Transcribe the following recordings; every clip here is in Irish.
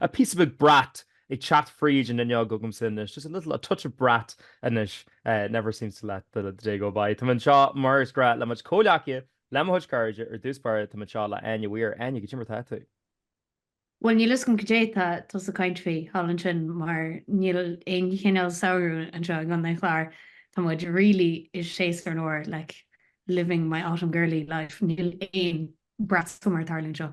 píosa beag brat ag teacht fríd an fhuinneog agam ansin anois just a little, a touch of brat anois never seems to let the day go by tá mé anseo mar is gnách le mo chuid comhleacaithe le mo chuid cairde ar dtús báire tá mé anseo le Áine Mhaoir Áine goidé mar atá tú? bhuel níl fhios agam cad é tá tusa ag caint faoi thall ansin mar níl aon chineál samhradh anseo i gcontae an Chláir tá muid really i séasúr an fhómhair like living my autumn girly life níl aon brats mar a tharlaíonn seo.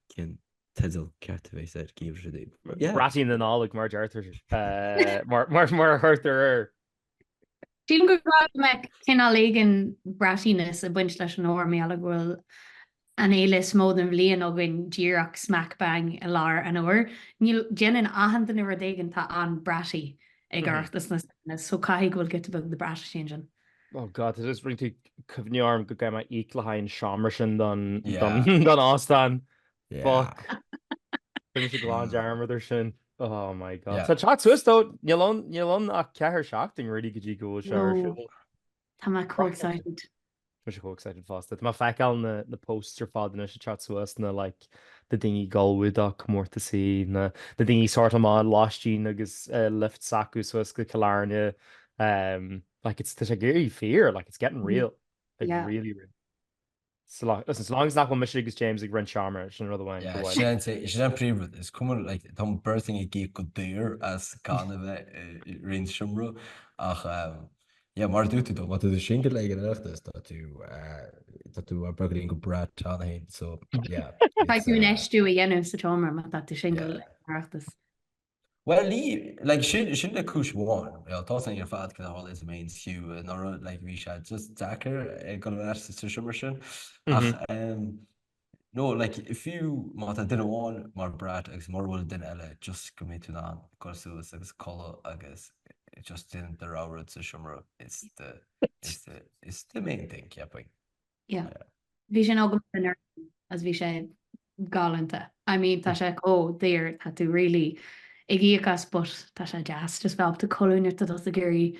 Cén teideal ceart a bheas air Geimhreadh sa Daob? Braithín na Nollag mar deirtear mar a chuirtear air. Sílim gur gá go mbeadh cineál éigin braitíneas ag baint leis an fhómhar mar gheall go bhfuil an fhéile is mó den bhliain againn díreach smack bang i lár an fhómhair. No, déanann achan duine rud éigin, atá an-bratty ag Oireachtas na Samhna so caithfidh go bhfuil giota beag de brat ansin. Oh God, tá just i ndiaidh cuimhneamh orm go gcaithfidh mé íoc le haghaidh an seomra sin don don óstán. Fuck. Rinne mé glan dearmad ar sin. Oh my God. Tá sé ag teacht suas though, níl ann níl ann ach ceathair seachtainí really go dtí go bhfuil sé ar siúl. Tá mé chomh excited. Tá mé chomh excited fosta. Tá mé ag feiceáil na posts ar fad anois ag teacht suas na like na daoine ag gabháil do na comórtasaí, na daoine ag sortáil amach lóistín agus lift s'acu suas go Cill Airne, like it's, tá sé ag éirí fíor, like it's getting real, like really real. So long, listen, so long as nach bhfuil mise agus James ag roinnt seomra, sin rud amháin go bhfaighidh. Yeah, sin is é an príomh rud, is cuma, like tá an bheirt againn ag íoc go daor as gan a bheith ag roinnt seomra ach Yeah mar a dúirt tú dó má tá tú singil ag an Oireachtas tá tú tá tú ag brat-áil go breá ann féin so yeah. Caithfidh tú infheistiú a dhéanamh sa tseomra má tá tú singil ag an Oireachtas. Well ní like sin sin le cúis amháin you know tá sin ar fad kind of all it means fiú anuraidh like bhí sé just deacair ag dul ar ais ag an seomra sin ach umm No, like, fiú má tá duine amháin mar brat agus mura bhfuil duine eile, just go mbeidh tú in ann dul suas agus codladh agus just déanamh do rogha rud sa seomra is the, is the, is the main thing, cheapainn. Yeah. Yeah. Bhí sin agamsa anuraidh agus bhí sé galánta. I mean, tá sé chomh daor, tá tú really ag íoc as but tá sé deas just bheith ábalta codladh nuair atá tú ag iarraidh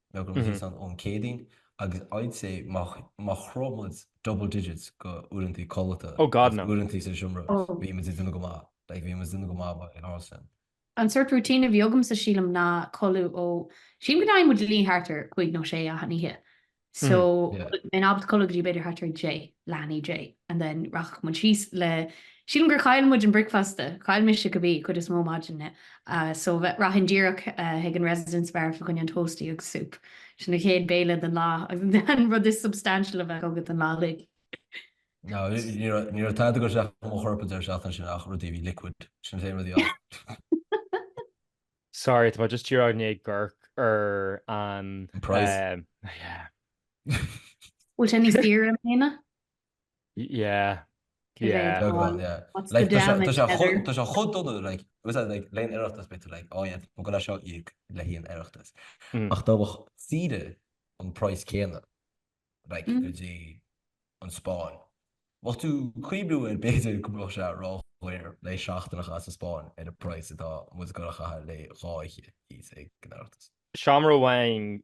nó ón Céadaoin agus I'd say má shroich muid double digits de uaireantaí codlata Oh god agus no. uaireantaí sa seomra Oh. bhí muid ag déanamh go maith like bhí muid ag déanamh go maith in ár sin. An sort routine a bhí agamsa sílim ná codladh ó sílim go dtéadh muid a luí thart ar cúig nó sé achan oíche so Yeah. bheinn ábalta codladh go dtí b'fhéidir thart ar deich nó dó dhéag and then rachadh muid síos le sílim gur chaill muid an bricfeasta chaill mise cibé cuid is mó maidin na So bheith rachainn díreach chuig an Residence Bar fá choinne an toastie agus soup. Sin an chéad béile den lá agus an rud is substantial a bheadh agat an lá uilig. No, ní raibh tada ag dul isteach i mo chorp an deireadh seachtaine sin ach rudaí a bhí liquid, sin an t-aon rud a dhearna. Sorry, tá mé just díreach i ndiaidh ag amharc ar an price. Yeah. Bhfuil sé níos daoire i mbliana? Yeah. Cé mhéad Yeah. Beag amháin, yeah. What's the Like, tá sé- tá damage, sé chomh- Heather? tá sé chomh dona, like, agus é, like, le haghaidh an Oireachtas beidh tú, like, oh yeah, tá mé ag goil é seo a íoc le haghaidh an Oireachtais. Mm. Ach dá mbeadh saoire an praghas céanna, like, Mm. go dtí an Spáinn. Bheadh tú ag cuimhniú air b'fhéidir go mbeadh sé ró-dhaor le haghaidh seachtain a chaitheamh sa Spáinn ar an praghas atá muid ag goil a chaitheamh le haghaidh dhá oíche thíos ag an Oireachtas. Seomra amháin,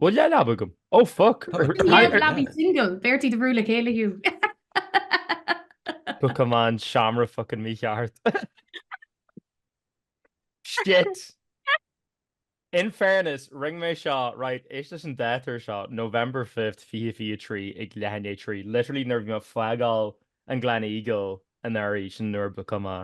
Bhfuil dhá leaba agam? Ó foc! Dhá leaba single! B'fhéidir iad a bhrú le chéile though! Bhookáil mé an seomra focain mícheart. Shit! In fairness, rinne mé seo, right, éist leis an dáta ar seo, November fifth, fiche fiche a trí ag leath i ndiaidh a trí, literally nuair a bhí mé ag fágáil an Gleneagle anuraidh, sin nuair a bhookáil mé.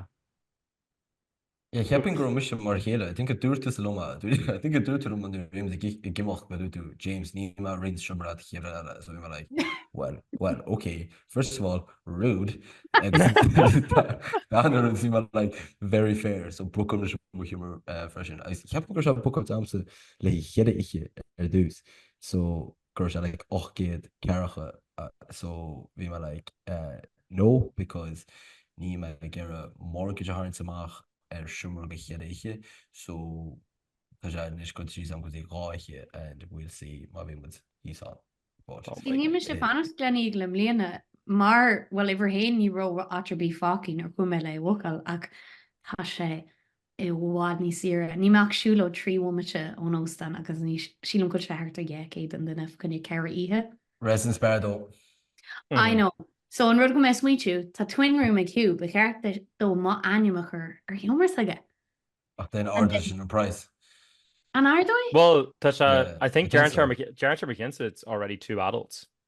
Yeah, ceapaim go raibh mise mar a chéile, I think a dúirt tusa liom é, I think a dúirt tú liom é nuair a bhí muid ag imeacht go luath tú, James, níl mé ag roinnt seomra leat cheithre oíche so bhí mé like, well, well, ok, first of all, rude agus ansin bhí mé like, very fair so bhookáil mise mo sheomra freisin agus ceapaim go raibh sé booked agamsa le haghaidh cheithre oíche ar dtús so, go raibh sé like ocht gcéad ceathracha so bhí mé like eh no because níl mé ag iarraidh mortgage a tharraingt amach ar seomra go cheithre oíche so tá sé anois cut síos agam go dtí dhá oíche and we'll see má bhí muid thíos ann but oh see my níl mise ag eh fanacht sa Gleneagle i mbliana mar bhuel uimhir a haon ní raibh áit ar bith fágtha nuair a chuaigh mé le é a bhookáil ach tá sé i bhfad níos saoire. Níl mé ach siúlóid trí bhomaite ón óstán agus anois, sílim go bhfuil sé thart ar dhá chéad an duine fá choinne ceithre oíche. Residence Bar though. I know! So an rud atá mé a smaointiú, tá twin room ag Hugh, ba cheart dó m'ainm a chur ar sheomra s'aige! Ach déan And ardóidh then, sin an praghas. an ardóidh? Bhuel, tá sé, Yeah, I I think think deirtear so. deirtear mo chinnse it's already two adults.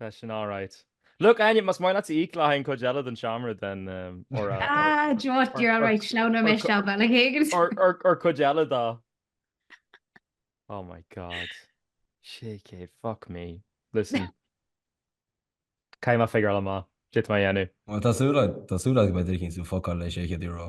Tá sin alright. Look Áine, más maith leatsa íoc le haghaidh an cuid eile den seomra den or a Ah, do you know what, or you're all or right, sleamhnóidh mé or isteach bealach éigin. or or or cuid eile dá Oh my God. Sé céad, fuck me. Listen. Caithfidh mé figuráil amach caidé atá mé a dhéanamh. Bhuel, tá súil a, tá súil agam go mbeidh tú ag cinntiú fuck all le sé chéad euro.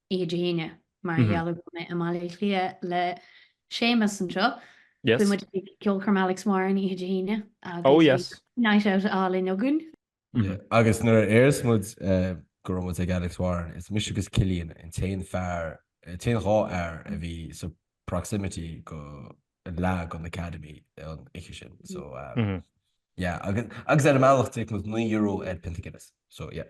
oíche Dé hAoine mar gheall ar go bhfuil mé i mBaile Átha Cliath le Séamus anseo. Beidh muid ag ceolchoirm Alex Warren oíche Dé hAoine agus beidh night out álainn againn. Yeah agus nuair a d'fhéach muid go raibh muid ag Alex Warren, is mise agus Cillian an t-aon fear, t-aon dhá fhear a bhí sa proximity go leath den Academy an oíche sin so yeah agus ar an mbealach d'íoc muid naoi euro ar pionta Guinness so yeah.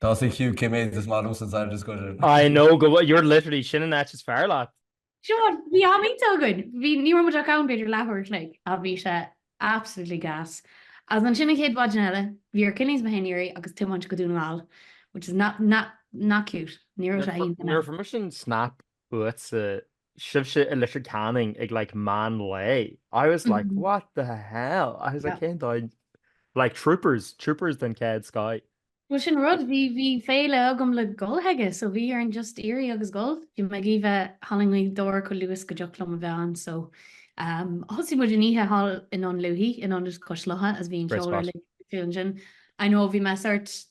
Tá sa chiú ciméad is maith san side is goidir. I know go bhfuil, you're literally, sin an áit is fearr leat. Seán, bhí an-oíche againn. Bhí, ní raibh muid ach ann b'fhéidir leathuair an chloig ach bhí sé absolutely gas. Agus ansin an chéad mhaidin eile, bhí ar Killie is mé féin éirí agus tiomáint go Dún na nGall, which is not, not, not cute. Ní raibh sé iontach. Ní raibh mise in Snap. uatsa, sibhse i Leitir Ceanainn ag like meán lae, I was like what the hell, I was like cén dóigh, like troopers, troopers den chéad scoth. Bhuel sin rud, bhí bhí féile agam le gabháil aige so bhí orainn just éirí agus gabháil, bhí mé ag iarraidh bheith thall i nGaoth Dobhair chomh luas go dtiocfadh liom a bheith ann so thosaigh muid an oíche thall in Dún Lúiche in Ionad Cois Locha as bhí an ceol ar léigear fúthu ansin, I know bhí mé sort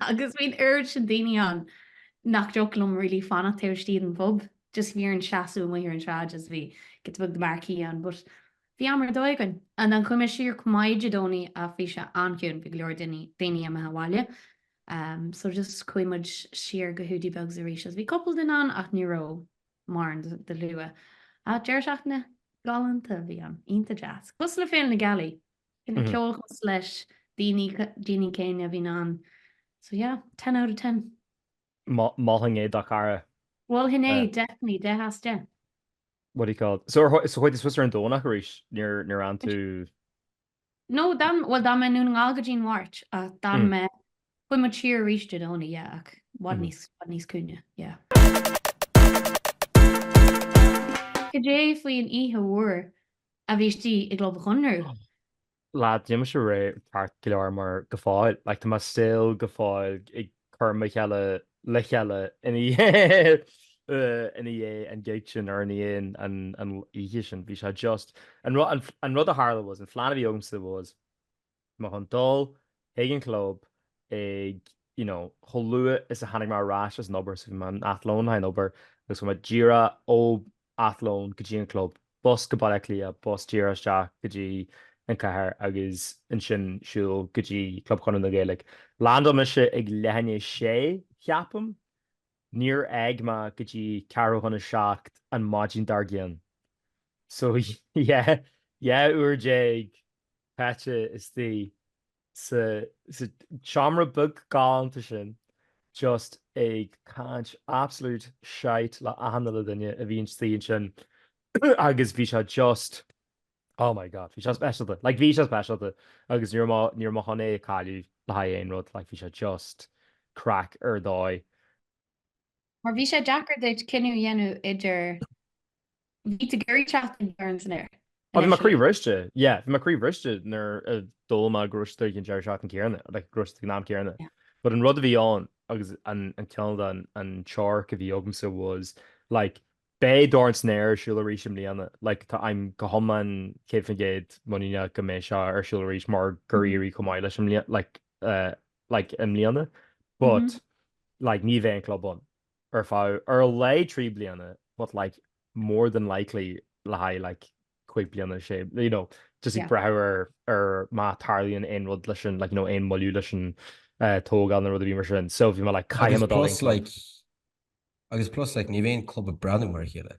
Agus bhí an oiread sin daoine ann nach dtiocfadh liom really fanacht taobh istigh den phub just bhí orainn seasamh amuigh ar an tsráid just bhí giota beag de marquee ann but bhí am ar dóigh againn and chuaigh muid siar chomh maith Dé Domhnaigh ach bhí sé an-chiúin bhí go leor daoine daoine imithe abhaile ehm so just chuaigh muid siar go Hiúdaí Beag arís agus bhí couple duine ann ach ní raibh mórán de de shlua ach deireadh seachtaine galánta a bhí ann iontach deas cosúil le Féile na Gealaí ina ceolchoirm leis na daoine céanna a bhíonn ann so yeah ten out of ten. Mholfainn é do chara. Mholfainn é definitely deich as deich. What do you call it so ar so chuaigh sibhse ar an Domhnach arís níor níor fhan tú? No d'fhan bhuel d'fhan mé i nDún na nGall go dtí'n Mháirt ach d'fhan mé chuaigh muid siar arís Dé Domhnaigh yeah ach bhfad níos bhfad níos ciúine yeah. Cad é faoin oíche mhór a bhí istigh i gClub Chonradh. Lá tá mise all right ceart go leor mar go fóill like tá mo saol go fóill ag cur mo shaol le chéile ina dhiaidh ina dhiaidh an gig sin ar an aon an an oíche sin bhí sé just an rud an rud a tharla was an phlean a bhí agamsa was Ná chun dul chuig an chlub ag, you know, chomh luath is a tháinig mé ar ais as an obair, so bhí mé in an athlone le haghaidh an obair agus chuaigh mé díreach ó athlone go dtí an club, bus go Baile Átha Cliath, bus díreach isteach go dtí an chathair agus ansin siúl go dtí Club Chonradh na Gaeilge. Landáil mise ag leath i ndiaidh a sé, cheapaim. Níor fhág mé go dtí ceathrú chun a seacht an maidin dár gcionn. So yeah, dhá uair déag. caite istigh sa seomra beag galánta sin just ag caint absolute shite le achan uile duine a bhí istigh ansin agus bhí sé just oh my God bhí sé speisialta like bhí sé speisialta agus ní raibh ní raibh mo chontae ag cáiliú le haghaidh aon rud like bhí sé just craic ar dóigh. Mar bhí sé deacair duit cinneadh a dhéanamh idir bhí tú ag iarraidh teacht ag Dorn san aer. Bhí mé croí bhriste, yeah, bhí mé croí bhriste nuair a chuala mé go raibh siad an deireadh seachtaine céanna, like go raibh siad an am céanna. But an rud a bhí ann agus an cineál dearcadh a bhí agamsa was like beidh Dorn san Aer ar siúl arís i mbliana, like tá I'm go hiomlán céad faoin gcéad muiníneach go mbeidh sé ar siúl arís mar gur éirigh chomh maith leis i mbliana like like, i mbliana but like ní bheidh an club ann ar feadh, ar a laghad trí bliana but like more than likely le haghaidh like cúig bliana, sé, you know, just ag brath ar, ar má tarlaíonn aon rud leis an like you know aon mhoilliú leis an eh, tógáil nó rud ar bith mar sin so bhí mé like caithfidh mé dul agus plus like ní bheidh an club ag breathnú mar a chéile.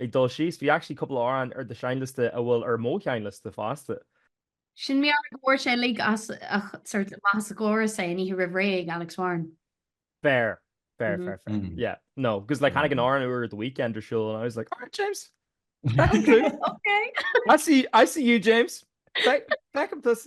Ag dul síos, bhí actually cúpla amhrán ar do sheinnliosta a bhfuil ar mo sheinnliosta fosta. Sin meabhraigh go bhfuair sé uilig as ach sort of maitheas a ghlór is é an oíche roimh ré ag Alex Warren. Fair, fair, fair, fair. Mm. Yeah, no, because like tháinig an mm. amhrán úr The Weeknd ar siúl and I was like, alright James, okay, okay. I see, I see you James. Back, back up this.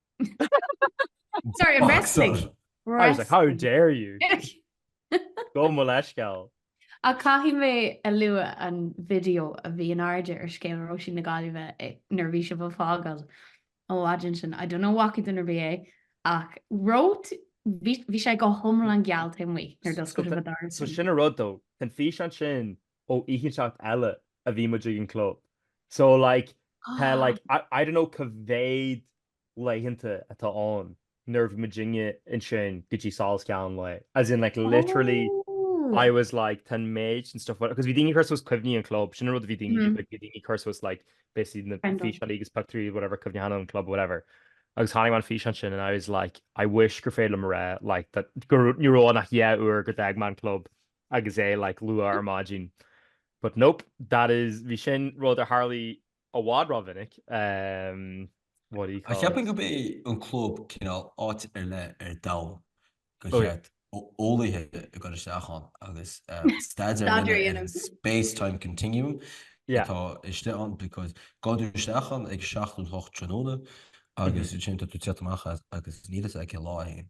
Sorry, an wrestling. I was like, how dare you? Gabh mo leithscéal. Ach caithfidh mé a lua an video a bhí in airde ar scéal Róisín na Gaillimhe nuair a bhí sibh ag fágáil an mhaidin sin. I don't know an bhfaca duine ar bith é ach right bhí sé go hiomlán geal taobh amuigh nuair a d'oscail sibh an doras. So sin an rud, tógadh an físeán sin ó oíche inteacht eile a bhí muid ag an club so like tá like I don't know cá mhéad laethanta atá ann nuair bhí muidinne ansin go dtí solas an lae as in like literally I was like tá an méid and stuff agus bhí daoine cur suas cuimhní an chlub sin an rud a bhí daoine like bhí daoine cur suas like basically na físeáin agus pictiúirí whatever cuimhneacháin an chlub whatever agus chonaic mé an físeán sin and I was like I wish gur féidir liom a rá like that gur ní raibh ann ach dhá uair go d'fhág mé an club agus é like luath ar maidin but nope that is bhí sin rud a tharlaigh i bhfad rómhinic em what do you call it? Ceapaim gurb é an club cineál áit ar leith ar domhan gur oh yeah. cheart eolaithe a chur isteach ann agus em staidéar a dhéanamh ar an space time continuum yeah atá istigh ann because gabhann tú isteach ann ag seacht nó hocht tráthnóna mhm agus ansin tá tú tiocht amach as agus níl fhios agat cén lá atá ann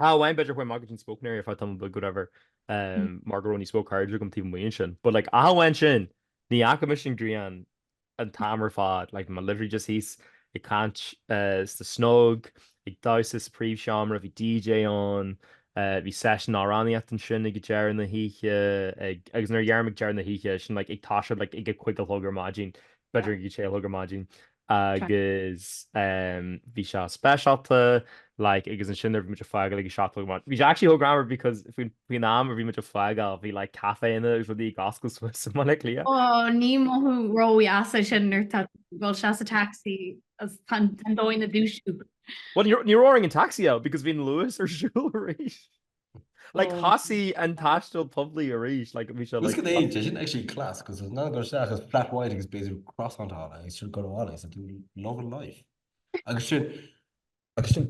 Ach amháin b'fhéidir chuaigh mé go dtí an smoking area ar feadh tamall beag whatever mar go raibh níos mó cairde agam taobh amuigh ansin. But like ach amháin sin ní fhaca mise an ghrian an t-am ar fad, like mé literally just thíos ag caint sna snug, ag damhsa sa príomhsheomra, bhí DJ ann, bhí seisiún amhránaíochta ansin ag deireadh na hoíche ag agus nuair a deir mé deireadh na hoíche sin like ag tosú like ag a cúig a chlog ar maidin, b'fhéidir ag a sé a chlog ar maidin. Ceart. agus em bhí sé speisialta like agus ansin ar bhí muid ag fágáil ag a seacht a chlog ar maidin. Bhí sé actually chomh greannmhar because faoin faoin am a bhí muid ag fágáil bhí like caiféanna agus rudaí ag oscailt suas i mBaile Átha Cliath. Ó ní mothú ródheas é sin nuair tá tú ag dul suas sa taxi agus tá an tá an daoine ag dúisiú. Bhuel ní raibh ní raibh orainn an taxi a fháil because bhí an Luas ar siúl arís. Like Oh. thosaigh an taisteal poiblí arís like bhí sé Bhfuil like go dtéann sé sin actually class because ansin gabháil isteach is flat white agus b'fhéidir croissant ann agus ansin gabháil abhaile is tú loving life agus sin agus sin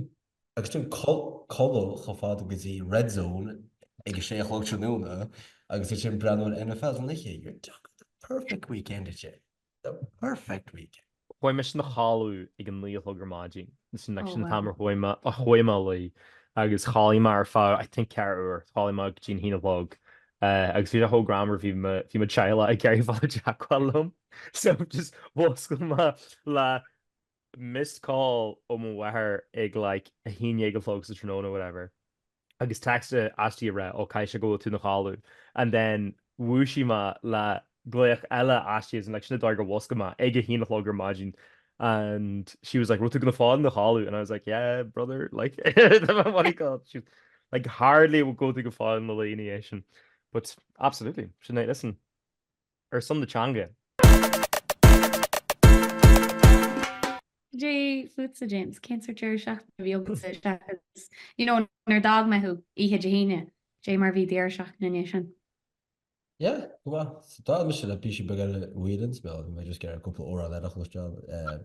agus sin cul- codladh chomh fada go dtí red zone ag a sé a chlog tráthnóna agus ansin breathnú ar an NFL san oíche you're talking the perfect weekend at you. The perfect week. Chuaigh mise a chodladh ag a naoi a chlog ar maidin. Sin like sin an t-am ar chuaigh mé a chuaigh mé a luí agus chodlaigh mé ar feadh I think ceathair uair. Chodlaigh mé go dtí an haon a chlog agus bhí sé chomh greannmhar bhí mo bhí mo teaghlach ag iarraidh fáil i dteagmháil liom so just mhuscail mé le missed call ó mo mháthair ag like a haon dhéag a chlog sa tráthnóna whatever agus text aisti ag rá oh caithfidh sé go bhfuil tú ina chodladh and then dhúisigh mé le glaoch eile aisti as in like sin a d'fhág gur mhuscail mé ag a haon a chlog ar maidin and she was like raibh tú go fóill ina chodladh and I was like yeah brother like what do you call it she was like hardly go bhfuil tú go fóill ina luí ina dhiaidh sin but absolutely sin é listen. ar son na teanga. Cad é fútsa, James? Cén sórt deireadh seachtaine a bhí agat? You know, nuair a d'fhág mé thú oíche Dé hAoine, cad é mar a bhí deireadh seachtaine ina dhiaidh sin? Yeah, go maith. So d'fhan mise le píosa beag eile uaidh linn, so bhí mé just ag iarraidh cúpla amhrán eile a chloisteáil.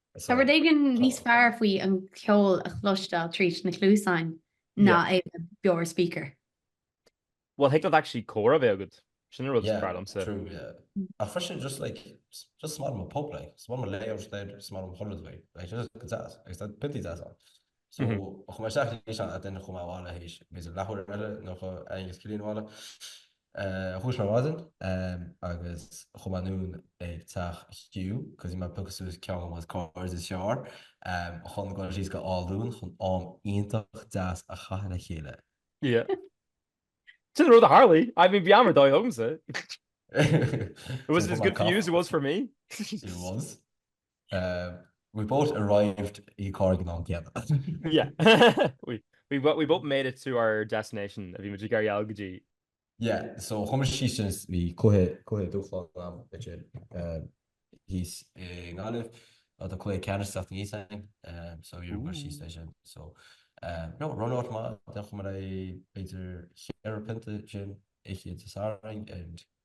Tá rud éigin níos fearr faoi an ceol a chloisteáil tríd na cluasáin ná é a bheith beo ar speaker. Bhuel, thig leat actually comhrá a bheith agat, sin an rud is fearr liomsa. Yeah, true, yeah. Ach freisin just like, just 's maith liom an pub like, 's maith liom an layout, 's maith liom an colourway, like, just go deas, agus tá piontaí deasa ann. So chuaigh mé isteach leis an a duine chuaigh mé abhaile th'éis b'fhéidir leathuair eile nó chuaigh mé féin is Cillian abhaile dhúisigh mé ar maidin agus chuaigh mé anonn ag teach Hugh cos he might pick us suas ceann of his cars is seár chun gabháil síos go Áth Luain chun am iontach deas a chaitheamh le chéile. Yeah. Sin an rud a tharlaigh. I mean bhí am ar dóigh agamsa. It was as good for you as it was for me. It was. We've both arrived ag an am céanna. Yeah, we both made it to our destination a bhí muid ag iarraidh a dhul go dtí. Yeah, so chuaigh muid síos ansin is bhí cluiche, cluiche dúshláin ann idir thíos i nGaillimh mar tá cluiche ceannais teacht aníos againn so bhí muid síos leis sin so no run out maith déanfamar é b'fhéidir cheithre pionta ansin oíche Dé Sathairn and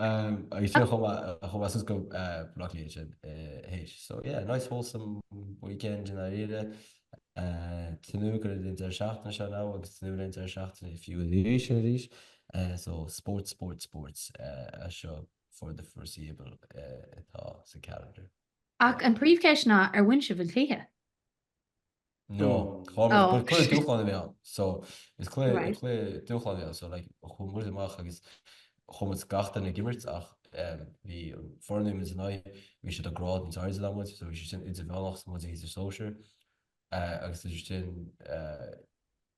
I fíor chomh maith is go rachfaidh sé théis. So yeah, nice wholesome weekend i ndáiríre. Tnúth go raibh an deireadh seachtaine seo now agus tnúth go raibh an deireadh seachtaine fiú arís and arís. So sports, sports, sports as seo for the foreseeable atá sa calendar. Ach an príomhcheist ná ar bhain sibh an cluiche? nó clár nó gur cluiche dúshláin a bhí ann. So is cluiche cluiche dúshláin é so like chuaigh muid amach agus chuir muid gach duine ag imirt ach bhí an fhoireann a muid in aghaidh bhí siad a grád níos airde ná muid so bhí siad sin idirmheánach is tá muid i sóisear A agus sure sin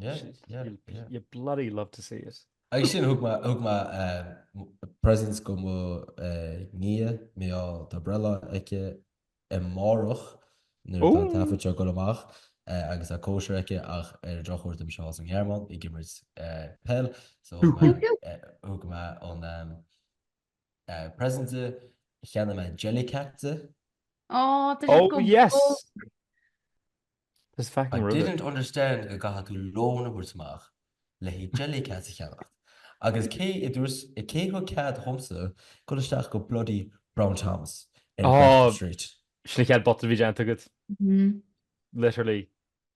You bloody love to see it. Agus sin, thug mé present go mo nia, Mícheál, tá breithlá aici amárach nuair atá an taifead seo ag dul amach agus tá cóisir aici ach ar an drochuair beidh mise sa nGearmáin ag imirt peil so thug mé an present di, cheannaigh mé jellycat di. Oh, tá sé Oh, go yes! bog! There's fucking I rude. didn't understand go gcaithfidh tú lón a thabhairt amach le haghaidh jellycat a cheannacht. Agus cé a dúirt, cé a thug cead dhomsa dhul isteach go bloody Brown Thomas ar Oh. Grafton Street? Sin an chéad bhotún a bhí déanta agat, Mhm. literally.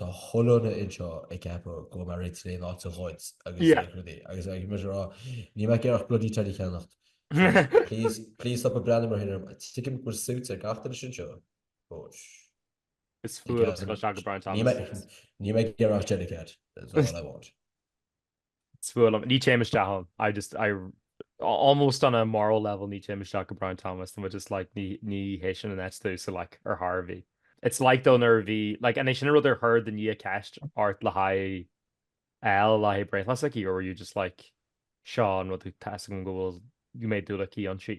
tá chuile dhuine anseo ag ceapadh go mairfidh tú aon áit a ghoid agus aon rudaí agus ag muid a rá níl mé ag iarraidh ach bloody teddy a cheannacht please please stop a breathnú mar sin orm tuigim go bhfuil suit ar gach duine istigh anseo but is fuath agus go seaga Brown Thomas níl mé ag iarraidh ach jellycat that's all I want. is fuath liom, ní téim isteach ann, I just, I almost on a moral level ní téim isteach go Brown Thomas tá just like ní ní hé sin an ethos like ar Harvey. It's like don ar bhí like an é sin rud ar chuir do nia ceist ort le haghaidh le haghaidh breithlá aici or you just like seo an rud tá a fhios agam go bhfuil an méid dúil aici ann si.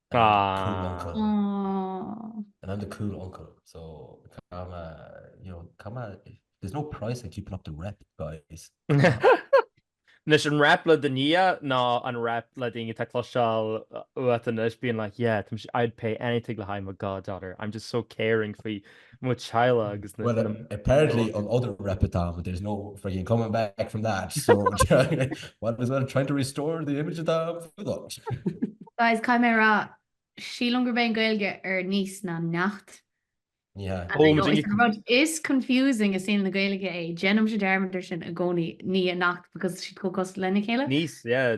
Anois an rap le do nia nó an rap le daoine atá ag cloisteáil uait anois being like, yeah, tá mise, I'd pay anything le haghaidh mo goddaughter, I'm just so caring faoi mo theaghlaigh agus na. Bhuel apparently an udar a rep atá agat there's no friggin coming back from that so might as well try to restore the image atá agat. Guys, caithfidh mé a rá, sílim gurb é an Gaeilge ar niece ná neacht. Ní hea. And I know it's an rud is confusing i saol na Gaeilge é, déanaimse dearmad ar sin i gcónaí, nia neacht because tá siad chomh cosúil lena chéile. Niece, yeah,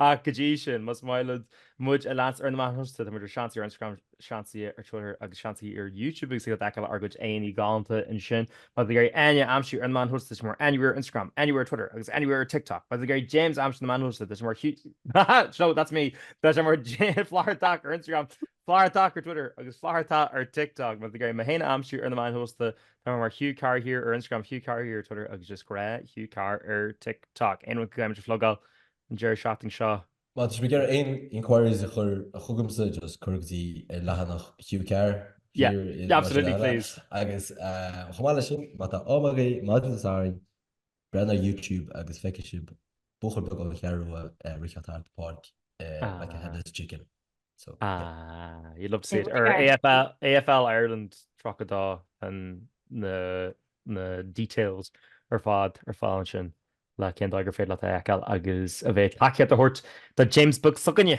Ach go dtí sin, más maith libh muid a leanstan ar na meáin shóisialta, tá muid ar Seans ar Instagram, Seans ar Twitter agus Seans ar YouTube agus ag feiceáil ár gcuid éadaí galánta ansin. Má tá sibh ag iarraidh Áine a aimsiú ar na meáin shóisialta, tá sí mar Áine Wheeler ar Instagram, Áine Wheeler ar Twitter agus Áine Wheeler ar TikTok. Má tá sibh ag iarraidh James a aimsiú ar na meáin shóisialta, tá sé mar Hugh, no, that's me, tá sé mar Flathartach ar Instagram. Flathartach ar Twitter agus Flathartach ar TikTok má tá sibh ag iarraidh mé féin a aimsiú ar na meáin shóisialta tá mé mar Hugh Carr Here ar Instagram, Hugh Carr Here ar Twitter agus just gnáth Hugh Carr ar TikTok. Aon rud go gcaithfimid a phlugáil an deireadh seachtain seo? Má tá sibh ag iarraidh aon enquiries a chur chugamsa just cuir go dtí ar leathanach Hugh Carr Here i Lá Absolutely Cineáile please. agus chomh maith leis sin má tá am agaibh maidin Sathairn, Breathnaigh ar YouTube agus feicfidh sibh buachaill beag ón Cheathrú Rua ag rith thart an pháirc like a headless chicken. So yeah. You love to see it. Ar AFL, AFL Ireland 32 an na na details ar fad ar fáil ansin le cén dóigh gur féidir leat a fheiceáil agus a bheith ag tacaíocht a thabhairt do James Beag s'againne!